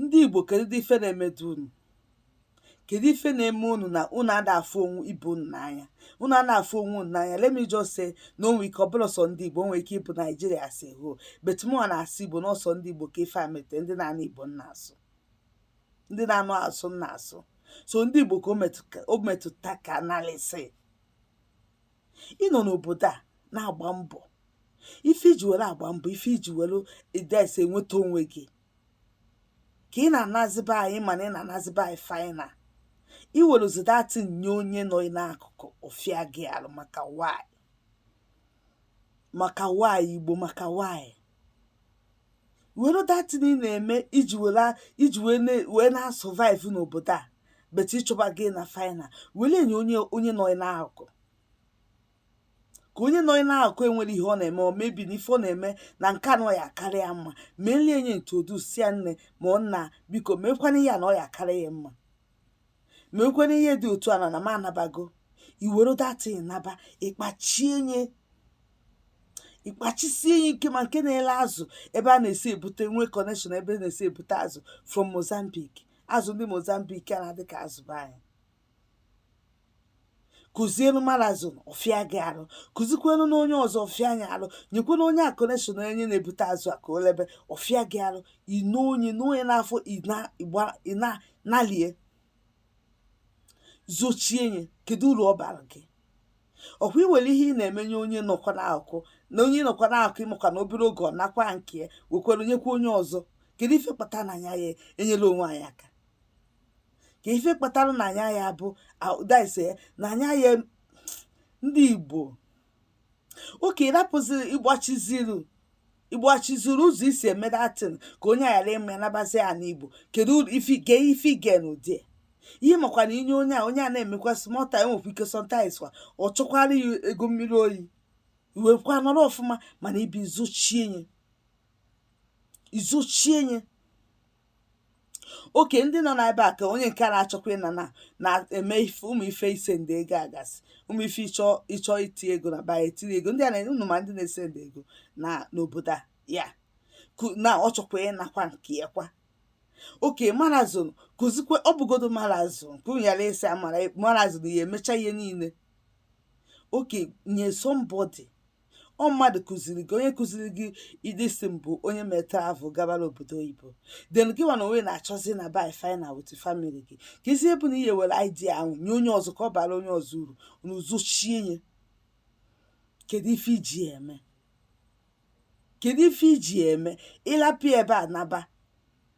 ndị Igbo kedu dị ife na-emedu unu kedu ife na-eme unu na unu ada afụ onwe ibe unu n'anya unu ada afụ onwe unu n'anya let me just say na o nwe ike ọ bụla sọ ndị Igbo nwere ike ịbụ Naijiria as a whole but mụwa na-asụ Igbo na ọ sọ ndị Igbo ka ife a mete ndị na-anụ Igbo na-asụ ndị na-anụ asụsụ na-asụ so ndị Igbo ka o metụta ka analịsị ị nọ n'obodo a na-agba mbọ ife iji were agba mbọ ife iji were ides enweta onwe gị ka ị na-anazi be anyị mana ị na-anazi be anyị final i weluzi that thing nye onye nọ n'akụkụ ọ fịa gị arụ maka why maka why Igbo maka why were that thing ị na-eme i ji were i ji wee na- wee na-survive n'obodo a but ị chọba gị na final were nye onye onye nọ ị n'akụkụ ka onye nọ ị n'akụkụ enwere ihe ọ na-eme or maybe na ife ọ na-eme na nke a na ọ ya-akarị ya mma welie nye introduce ya nne ma ọ nna biko mekwanụ ya na ọ ya-akarị ya mma mekwenụ ihe dị otu a na na m anabago i were that thing naba ị kpachie nye ị kpachisie ya ike ma nke na-ele azụ ebe a na-esi ebute nwee connection ebe a na-esi ebute azụ from Mozambique azụ ndị Mozambique a na-adị ka azụ be anyị kụzienu malazon ọ fịa gị arụ kụzikwenu na onye ọzọ ọ fịa anyị arụ nyekwenu onye a connection onye na-ebute azụ a ka o lebe ọ fịa gị arụ ino onye na onye n'afọ ị nalie zochie nye kedu uru ọ bara gị ọ kwa i were ihe ị na-eme nye onye nọkwa n'akụkụ na onye nọkwa n'akụkụ ị makwa na obere oge ọ nakwa nke ya wekwere nyekwa onye ọzọ kedu ife kpata na anyị aya enyela onwe anyị aka ke ife kpatara na anyịwa bụ that is eh, na anyịwa ndị Igbo okay ị rapụziri ị gbachiziri ị gbachiziri ụzọ e si eme that thing ka onye ghara ịma ya nabazi ana Igbo kedu ifige ifige n'ụdị ihe makwa na i nye onye a onye a na-emekwa smọta enwekwa ike sometimes kwa ọ chọkwara ya ego mmiri oyi i wekwa nọrọ ọfụma mana ibi i zochie nye i zochie nye okay ndị nọ n'ebe a ka onye nke a na-achọkwa ịna na na-eme ife ụmụ ife isend ego a gasị ụmụ ife ịchọ ịchọ iti ego na be anyị etinye ego ndị a na unu ma ndị na-esend ego na n'obodo a ya ku- na ọ chọkwa ịnakwa nke ya kwa okay marazon kụzikwe ọ bụgodu marazon ka unu ghara ịsị amara marazon ya emecha ihe niile okay nye somebody ọ mmadụ kụziri gị onye kụziri gị ịdị si mbụ onye mee travel gabara obodo oyibo then gị nwa na onwe na-achọzi ịnaba final with family gị ka ezi ebe na ihe were idea ahụ nye onye ọzọ ka ọ baara onye ọzọ uru na uzochie nye kedu ife i ji eme kedu ife i ji eme ịlapụ ebe a naba